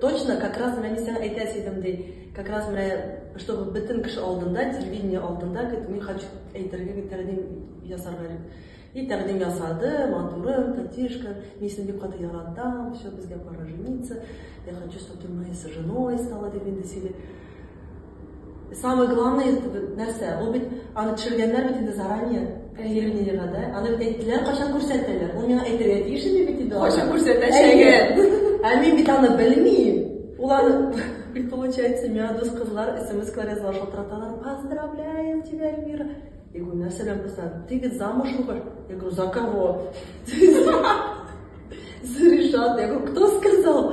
Точно, как раз менә мин сиңа әйтәсе идем, ди. Как раз менә, чтобы бөтен кеше алдында, телевидение алдында, дип, мин хочу әйтергә дип тәкъдим ясарга дип. И тәкъдим ясады, матурым, Татишка, мин сине бик каты яратам, все, безгә пора жениться, я хочу, чтобы ты моей женой стала, дип инде сөйли. Самое главное нәрсә? Ул бит аны төшергәннәр бит инде заранее. Каирминега да. Аны бит әйттеләр, кайчан күрсәтәләр. Ул миңа әйтергә тиеш инде бит инде. Кайчан күрсәтәчәген. Ә мин бит аны белмим. Ул аны и получается, миңа дус кызлар смс-ка язалар, шалтыраталар. Поздравляем тебя, Эльмира. Я говорю, нәрсә белән кызлар? Ты бит замужмы бер? Я говорю, за кого? За Ришат. Я говорю, кто сказал?